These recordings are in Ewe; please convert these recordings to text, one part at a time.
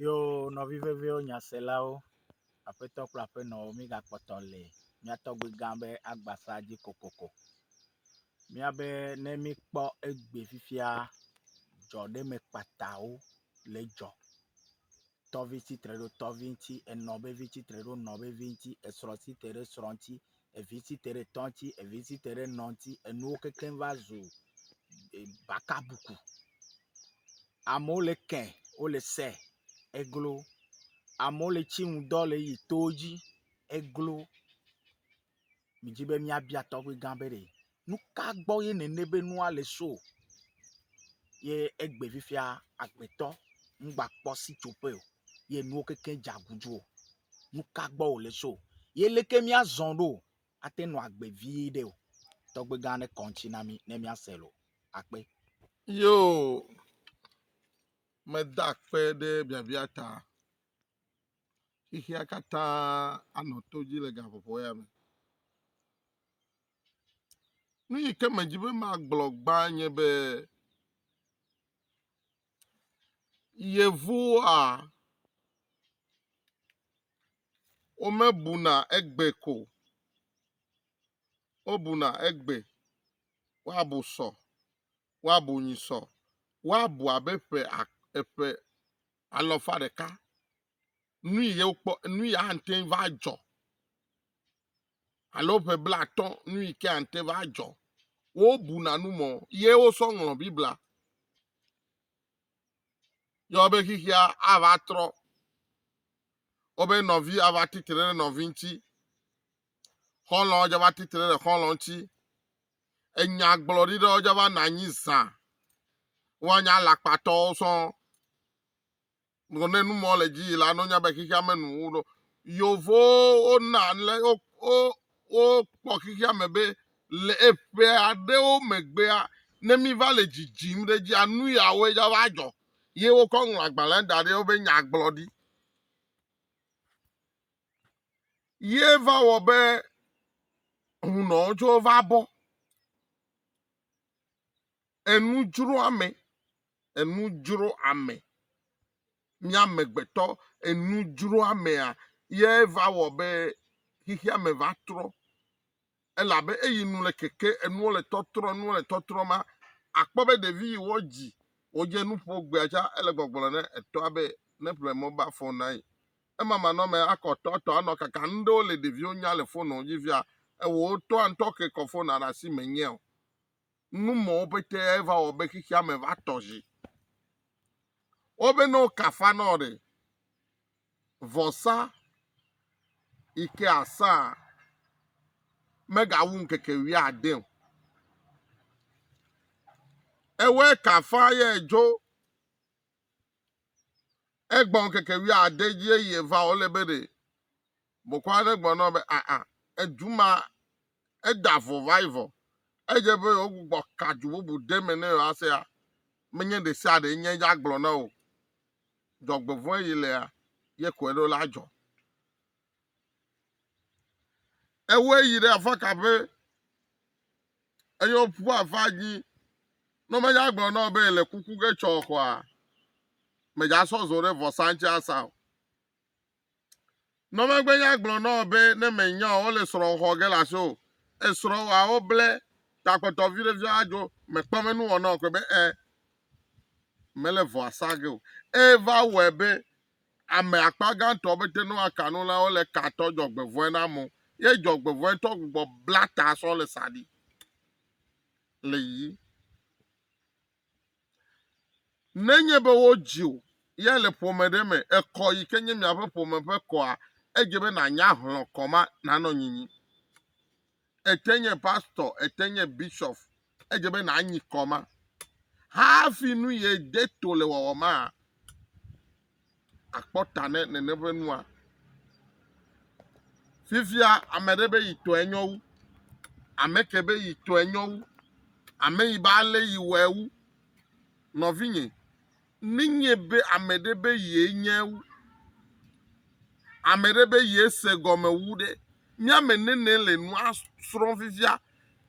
Yo nɔvi veviwo nyaselawo, aƒetɔ kple aƒenɔwo, mígakpɔtɔ le mía tɔgbui gã be Agbasa dzi kokoko. Míabe ne míkpɔ egbe fifia dzɔɖeme kpatawo le edzɔ, tɔvi tsitre ɖo tɔvi ŋuti, enɔ vevi tsitre ɖo enɔ vevi ŋuti, esrɔ̃ tsitre ɖo esrɔ̃ ŋuti, evi si te ɖe tɔ̃ ŋuti, evi si te ɖe nɔ̃ ŋuti, enuwo kekeŋ va zu bakabuku. Amewo le eke, wole se, eglo. Amewo le tsi nu dɔ le yi towo dzi, eglo. Medi be míabia tɔgbuigã be ɖe. Nuka gbɔ ye nènɛ be nua le so o? Ye egbe fifia agbetɔ ŋgbakpɔ sitsoƒe o, ye nuwo keke dze aguzu o. Nuka gbɔ wòle so? Ye leke míazɔ ɖo ate nɔ agbe vie ɖe o? Tɔgbegã aɖe kɔ ŋuti na mí ne míase lo. Akpe. Yoo, meda akpe ɖe biabia ta. Xexea katã anɔ to dzi le gaƒoƒo ya me. Nu yi ke medi be magblɔ gbã nye be Yevuwoa womebuna egbe ko o. Wobuna egbe, woabu sɔ, woabu nyi sɔ, woabu abe ƒe ak eƒe alɔfa ɖeka. nu yi wokpɔ nu yi ate ŋu va dzɔ alo ƒe blatɔ nu yi ke ate va dzɔ wobuna nu mɔ ye wosɔ ŋlɔ biblia yɔ be xixia ava trɔ wobe nɔvi ava titre ɖe nɔvi ŋuti xɔlɔ dzava titre ɖe xɔlɔ ŋuti enyagblɔɖi ɖewo dzava na anyi zã woanya lakpatɔwo sɔŋ Gblɔ ne nu mɔ le dzi yi la, nonya be xexea me nu wo ɖo. Yovowo na le wo wo wokpɔ xexea me be le eƒe aɖewo megbea ne mi va le dzidzim ɖe dzi anu yawoe dza va dzɔ. Ye wokɔ ŋlɔ agbalẽ da ɖe woƒe nyagblɔɖi. Ye va wɔ be hunɔwo tso va bɔ. Enudzroame, enudzroame. Mí amegbetɔ enudzroamea ye va wɔ be xexea me va trɔ elabe eyi nu le keke enuwo le tɔtrɔ enuwo le tɔtrɔ ma akpɔ be ɖevi yi wodzi wodze nu ƒo egbea tsa ele gbɔgblɔ ne etɔa be ne ƒle mobal fon na ye. Emamanɔme akɔ tɔ etɔ anɔ kaka nu ɖewo le ɖeviwo nya le fon dzi fia ewɔ wotɔa ŋutɔ ke kɔ fona ɖe asi me nyɛ o. numɔwo pete va wɔ be xexea me va tɔ zi. Wobe ne wokafa na wo ɖe, vɔsa yi ke asã megawu ŋkeke wuiade o. Ewɔe kafa ye dzo egbɔ ŋkeke wuiade dzi eye va wòle be ɖe Bokɔ aɖe gblɔ na wo be, Aa, edu ma, eda vɔ va yi vɔ. Edze be yewogbɔ ka du bubu ɖe me ne yewoasea, menye ɖe sia ɖe nye ya gblɔ na wò. Dzɔgbevɔ̃e yi lea, ye koe ɖo la dzɔ. Ewɔe yi ɖe afɔ ka ƒe eye woƒu afa dzi. Ne menye agblɔ na wò be le kuku ge tsɔ koa, mèdza sɔ zo ɖe vɔsa ŋuti asa o. Nɔ megbe nya gblɔ nɔ be ne me nya o le srɔ xɔ ge la so esrɔ wa wo ble ta kpɔtɔ vi ɖe vi adzo me kpɔ me nu wɔnɔ kwe be e me le vɔ asa ge o e va wɔ be ame akpa ga tɔ be te no aka no la wo le ka tɔ jɔ gbe vɔe na mo ye jɔ gbe vɔe tɔ gbɔ bla ta sɔ le sa di le yi Nenye be wodzi wò ya le ƒome ɖe me, èkɔ yi ke nye miaƒe ƒome ƒe kɔa, edze be nànya hlɔ̃ kɔ ma nanɔ nyinyi. Ète nye pastɔ, ète nye bishop, edze be nànyi kɔ ma. Hafi nu ye de to le wɔwɔ ma. akpɔ ta ne nene ƒe nua. Fifia ame ɖe be yi tɔe nyɔ wu. Ame ke be yi tɔe nyɔ wu. Ame yi be ale yi wɔe wu. Nɔvinye, nenye be ame ɖe be ye nye wu. Ame ɖe be ye se gɔme wu ɖe. Mía me nene le nua srɔ̃ fifia.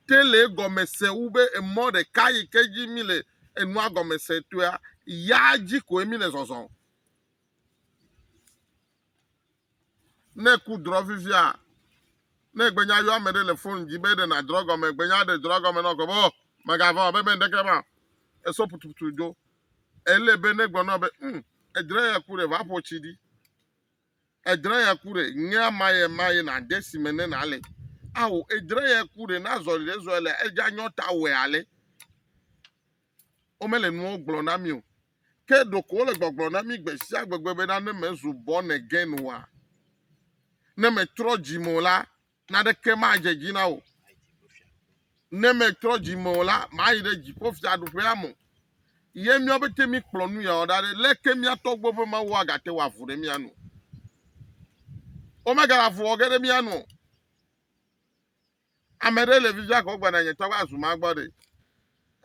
Te le egɔme se wu be emɔ ɖeka yi ke dzi míle enua gɔme se toea, yaa dzi koe míle zɔzɔm. Ne ku drɔ vivia, ne egbenya yɔ ame ɖe le fon dzi be ɖe nàdrɔ gɔme, egbenya ɖe drɔ gɔme nɔ gbe be, oh, mègavɔ̃ o, be meŋɖeke ma o. Esɔ putuputu dzo. Ele be negblɔ nɔ be, um, edzra eya ku ɖe, va ƒo tsi ɖi. Edzra ya ku ɖe ŋea maye maye na de si me ne na le. Ao, edzra ya ku ɖe na zɔli ɖe zɔli le edza nyɔ ta wɛ ale. Wome le nuwo gblɔ na mi o. Ke ɖoko wole gbɔgblɔ na mi gbe sia gbegbe be na ne me zu bɔn egen wa. Ne me trɔ dzi mo la, Naneke madze dzi na wò. Ne metrɔ dzi me o la, mayi ɖe dziƒo fiaɖuƒea me. Ye mía pete míkplɔ nu yawo ɖa ɖe, leke mía tɔgbuiwo ƒe Mawu agate wɔ avu ɖe mía nu? Womegale avu wɔ ge ɖe mía nu o. Ame ɖe le vivia kɔ gbana nye tɔgbe azu ma gbɔ ɖe.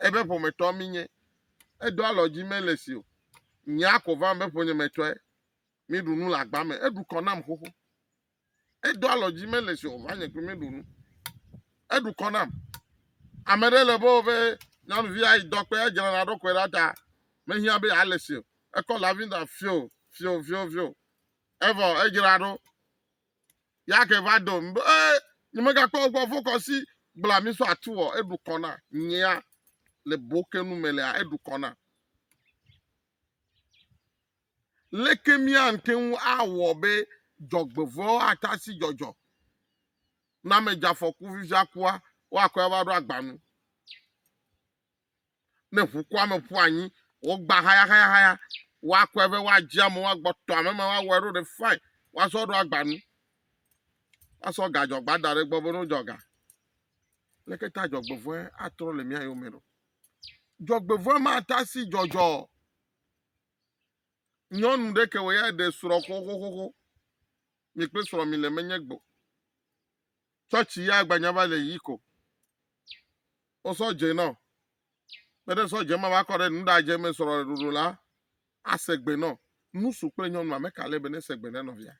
Ebe ƒometɔ minye. Edo alɔ dzi mele si o. Nye ako vam be ƒonyemetɔe. Míɖu nu le agba me. Eɖu kɔ nam xoxo. Edo alɔ dzi mele si o va nye kple meɖo nu. Eɖu kɔ nam. Ame ɖe le be woƒe nyɔnuvi ayi dɔkpe edzra na ɖokɔe ɖa ta mehiã be ale si o. Ekɔ lavinda fio fio fio fio. Evɔ edzra ɖo. Yake va do be e nyemegakpɔ gbɔ fokɔ si gbla mi so atu wɔ eɖu kɔ na nyea le bokenu me lea eɖu kɔ na. Leke míate ŋu awɔ be dzɔgbevɔ̃ewo ate asi dzɔdzɔ ne ame dze afɔku vivia kua, woakɔe ava ɖo agba nu? Ne ʋukua me ƒu anyi, wògbã hayahayahaya, woakɔe vɛ, woadzi amewo, woagbɔ tɔ ame ma, woawɔe ɖo ɖe fain, woasɔ ɖo agba nu, woasɔ gadzɔgba da ɖe egbɔ be no dzɔ ga. Leke ta dzɔgbevɔ̃e atrɔ le mía yome ɖo? Dzɔgbevɔ̃e mate asi dzɔdzɔ o. Nyɔnu ɖe ke wɔ ya ɖe srɔ̃ xoxoxoxo. Mi kple srɔ̃ mi le menye gbɔ. Tsɔtsi ya agbanya va le yi ko. O sɔdze nɔ. Kpe ɖe sɔdze ma va kɔ ɖe nu ɖadze me srɔ̃ ɖoɖo la ase gbe nɔ. Nusu kple nyɔnu ame ka le be ne se gbe ne nɔvia?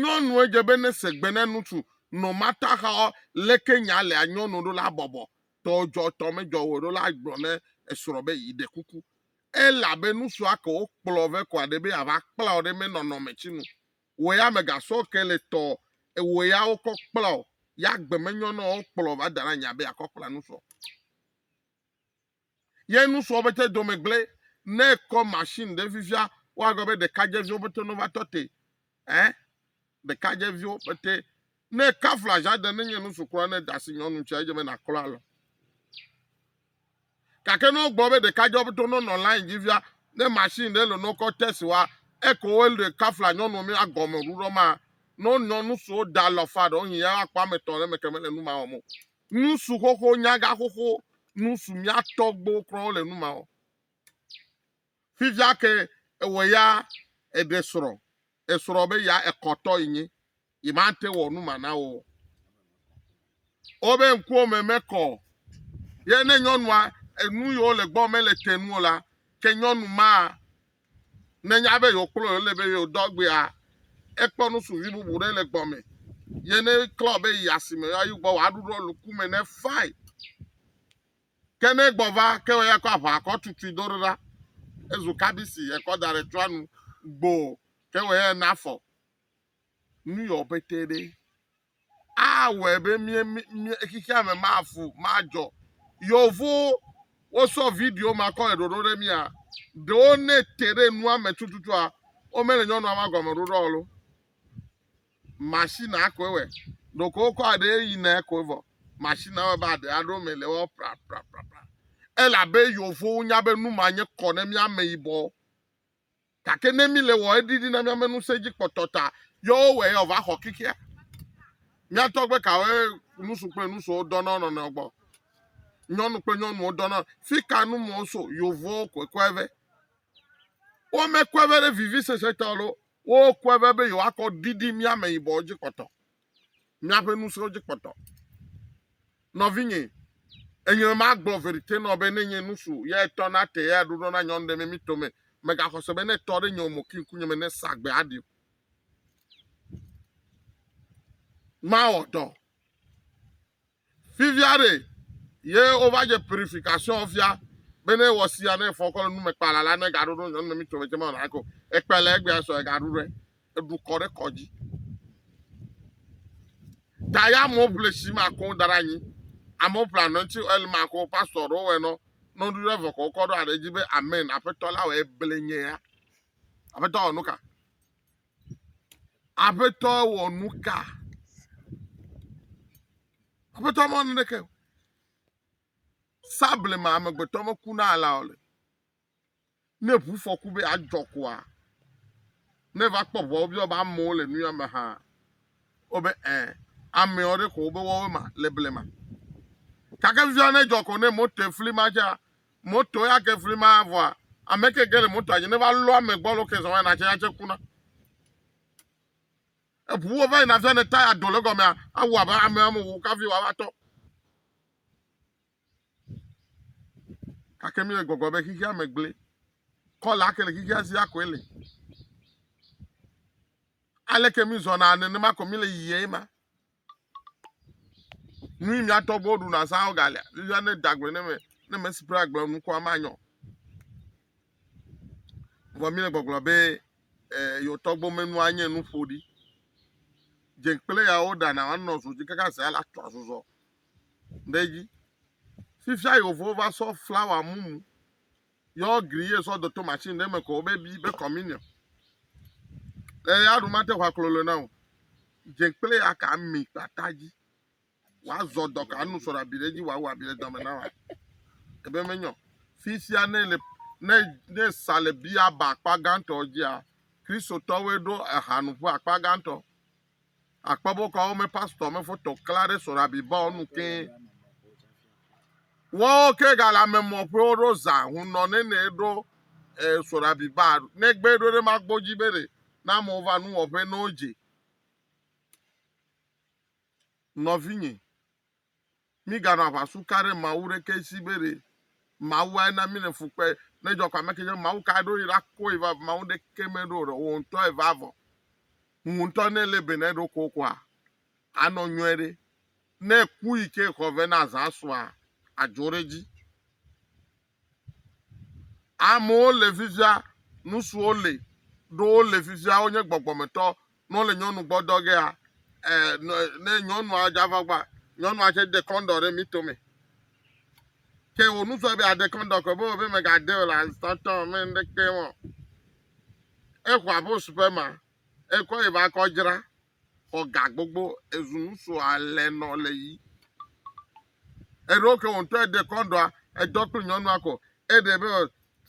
Nyɔnu edze be ne segbe ne nusu nɔ mata xaɔ, leke nya lea nyɔnu ɖo la bɔbɔ tɔ dzɔ tɔ me dzɔ woe ɖo la gblɔ ne esrɔ be yi ɖe kuku ela be nusua ke wo kplɔ ve kɔ aɖe be ya va kpla wo ɖe me nɔnɔ me tsi nu wo ya me ga sɔ ke le tɔ ewo ya wo kɔ kpla wo ya gbe me nyɔnɔ wo kplɔ va da na nya be ya kɔ kpla nusɔ. Ye nusrɔ̃ be te dome gblẽ ne kɔ machine ɖe fifia woagblɔ be ɖekadzeviwo be te no va tɔ te eh ɖekadzeviwo be te ne kafla jade ne nye nusu kura ne dasi nyɔnu tsia edze be na klo alɔ gake ne wogblɔ be ɖekadzewo be to no nɔ line dzi fia ne machine ɖe le no kɔ test wa eko wo le kafla nyɔnu mi agɔme ɖuɖɔ ma no nyɔnu so da lɔ fa ɖo hin ya akpɔ ametɔ ɖe me keme le nu ma wɔmo Nusuxoxo nyagaxoxo nu su mía tɔgbuiwo kura le nu ma wɔ. Fifia ke ewɔ ya eɖe srɔ, esrɔ be ya ekɔtɔ yi nyi, yi ma te wɔ nu ma na wo. Wobe ŋkuwo me mekɔ o. Ye ne nyɔnua enu yi wo le gbɔ mele te nu o la, ke nyɔnu ma Nenya be yeokplɔ ye le be yeodɔ agbea, ekpɔ nusuvi bubu ɖe le gbɔme. Ye ne klɔ be yi asime ayi gbɔ wòaɖu ɖo luku me ne fae. Ke ne egbɔ va ke wòya kɔ aʋa kɔ tutui do ɖo ɖa. Ezu kabisi ekɔ da ɖe tsɔa nu gboo ke wòya na afɔ. Nu yɔ pɛtɛ ɖe. awɔe be mía mía xexea me mafu madzɔ. Yevuwo wosɔ video ma kɔ le ɖoɖo ɖe mía. Ɖewo ne te ɖe nua me tututua womele nyɔnua ma gɔme ɖoɖo o lo. Machine akoe wɔ. Ɖeko wokɔ aɖe yina koe vɔ. Machine awɔ be aɖe aɖo me le wɔ pra pra pra pra. Elabe yevuwo nya be nu ma nye kɔ ne mía ameyibɔ. Gake ne míle wɔ eɖiɖi na míame ŋusẽ dzi kpɔtɔ ta, yɔ wowɔe ya wòva xɔ kikea. Mía tɔgbe kawoe ŋutsu kple ŋutsuwo dɔna wo nɔnɔewo gbɔ? Nyɔnu kple nyɔnuwo dɔna. Fi ka nu mɔ so yovowo kɔkɔe vɛ? Womekɔe vɛ ɖe vivisese ta o loo, wokɔe vɛ be yewoakɔ ɖiɖi mía ameyibɔwo dzi kpɔtɔ. míaƒe ŋusẽwo dzi kpɔtɔ. Nɔvinye, enyɔe magblɔ verite nɔ be ne nye nusu ya etɔ na te ya ɖuɖɔ na nyɔnu ɖe me mi tome megaxɔ se be ne tɔ ɖe nye omo ki ŋkunye me ne sa gbe aɖi o. Mawɔ dɔ. Fifia ɖe ye wova dze purification fia be ne wɔ sia ne fɔ kɔ le nume kpala la ne gaɖo ɖo nyɔnu mi tsɔmɛ tsɛmɛ na ko ekpe le egbea sɔ egaɖu ɖe eɖu kɔ ɖe kɔ dzi ta ya mo ble si ma ko da ɖe anyi amewo ble anɔnti el ma ko pastor ɖo wɛ nɔ nɔɖu ɖe vɔ kɔ kɔ ɖo aɖe dzi be amen aƒetɔ la wɔ eble nye ya aƒetɔ wɔ nuka Aƒetɔ wɔ nu ka? Aƒetɔ mewɔ naneke o. Sablema amegbetɔ meku na alea o le. Ne ʋufɔku be adzɔ koa, ne va kpɔ ʋua wobiɔ be amewo le nu ya me hã, wobe ẽ, amewo ɖe ko wobe woawoe ma le blema. Gake via ne dzɔ ko ne moto efli ma dzea, Moto ya ke fli ma vɔa ame ke ge le motoa dzi ne va lɔ ame gbɔ alo ke zɔ va natse ya tse kuna. Eʋuwo va yina fia ne taya do le gɔmea awɔ abe ame ame wo kafi wòava tɔ. Gake mi le gbɔgblɔ be xixia me gblẽ. Kɔla ke le xixia si akoe le. Aleke mi zɔna nenema ko mi le yiyim ema. Nu yi mía tɔgbuiwo ɖuna azã wogalia. Nuya ne da gbe ne me ne me si ƒe agblɔ nukua manyɔ. Vɔ mi le gbɔgblɔ be e, yewo tɔgbo menua nye nu ƒoɖi. Dze kple yawo ɖana wanɔ zo dzi kaka zea la tɔ azɔzɔ ɖe edzi. Fifia yewo va sɔ flawa mumu. yɔ gri ye sɔ dɔto machine ɖe me ko be bi be communion le ya ɖu mate ʋa klolo na o dze kple ya ka mi kpata dzi wazɔ dɔ ka nu sɔrɔ abi ɖe dzi wɔ awɔ abi ɖe dame na wa ebe menyɔ fi sia ne le ne ne sa le bia ba akpa gãtɔ dzia kristotɔwoe ɖo ehanuƒe akpa gãtɔ Akpɔ be wokɔ wo me pastɔ me foto kla ɖe sɔɖabibɔwo nu ke. Wɔwo ke gale amemɔ ƒewo ɖo zã hunɔ nene ɖo sɔɖabiba negbe ɖo ɖe magbo dzi be ɖe na amewo va nuwɔƒe ne wodze. Nɔvinye, Míganɔ aʋasu ka ɖe Mawu ɖekee si be ɖe Mawuae na mí le fu kpe ne dzɔ kɔ ame ke dze Mawu kae ɖo yi ɖa koe va Mawu ɖekee me ɖo ɖe wò ŋutɔ eva vɔ ŋu ŋutɔ ne le be ne ɖo ko koa anɔ nyɔe ɖe ne ku yi ke xɔ vɛ na zã sua adzo ɖe dzi Amewo le fifia, nusuwo le, ɖo wo le fifia, wonye gbɔgbɔmetɔ, ne wole nyɔnu gbɔ dɔ gea, e, ne nyɔnua dza va gbɔ, nyɔnua tse de kɔndɔ ɖe mito me. Ke wo nusua be ade kɔndɔ kɔ, be be megade o la, tɔtɔ me ɖeke wɔn. Exɔ abo supema, ekɔ yi ba kɔ dzra, xɔ ga gbogbo ezu nu so alɛ nɔ le yi. Eɖo ke wò ŋutɔ eɖe kɔndɔa edɔ kple nyɔnua ko eɖe be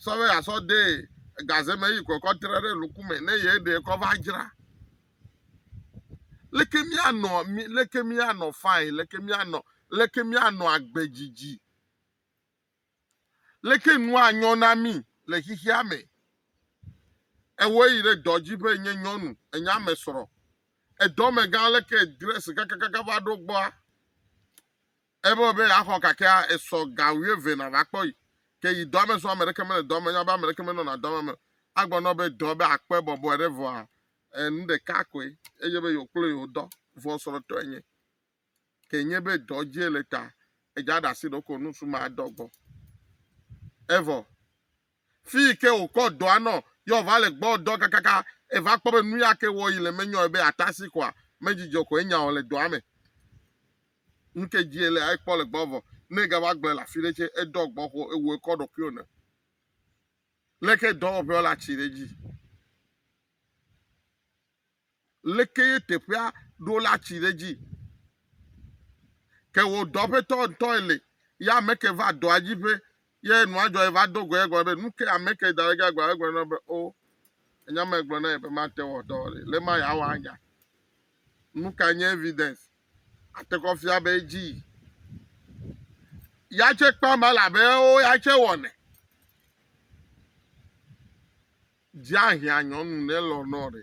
sɔve asɔ de gaze me yi kɔ kɔ tre ɖe luku me ne ye ɖe kɔ va dzra. Leke mianɔ mi leke mianɔ fine leke mianɔ leke mianɔ agbe dzidzi Leke nu anyɔ na mí le xexea me? Ewɔe yi ɖe dɔ dzi be nye nyɔnu, enye ame srɔ̃. Edɔme gã aleke dress kakakaka va ɖo gbɔa? Ebe be yeaxɔ kakea, esɔ ga wuieve nàva kpɔ yi. Ke yi dɔa me zɔa, ame ɖeke mele dɔa me, nya be ame ɖeke menɔna dɔa me me. Agblɔ na wò be dɔ be akpɔe bɔbɔe ɖe vɔa, e, nu ɖeka koe, enye be yewokplɔe yewodɔ, vɔ srɔ̃tɔe nye. ke nye be dɔ dze le ta edza ɖe asi ɖo ko nusu ma dɔ gbɔ. Evɔ fi yi ke wòkɔ dɔa nɔ yɔ wòva le gbɔ dɔ kakaka eva kpɔ be nu ya ke wɔ yi le menyɔe be atasi koa medzidzɔ ko enya o le dɔa me. Nu ke dzie le ekpɔ le gbɔ vɔ ne egava gblɔe le afi ɖe tse edɔ gbɔ xo ewu ekɔ ɖokuiwo ne. Leke dɔwɔƒewo le atsi ɖe edzi. Leke ye teƒea ɖo la tsi ɖe dzi. Ke wò dɔƒetɔ ŋutɔe li, ye ame ke va dɔa dzi ƒe, ye nua dzɔ eva do goe egblɔ be, Nuke ame ke da ɖe ge agblɔ? Egblɔ na be, O, ènya me gblɔ na ye be mate wɔ dɔ o ɖe, le ma yeawɔ anya? Nuka nye evidence ate kɔ fia be edzi yi? Ya tse kpam elabe ewo ya tse wɔnɛ. Dzi ahiã nyɔnu ne lɔ̃ nɔ ɖe.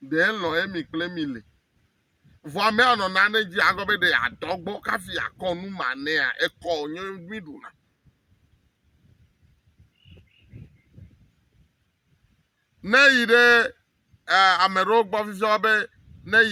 Ɖe lɔ̃ emi kple mi le. Vɔ ame anɔ nane dzi agɔ be ɖe adɔ gbɔ kafi akɔ nu ma nɛa ekɔ nye mi ɖuna. Ne yi ɖe eh, ame ɖewo gbɔ fifia be ne yi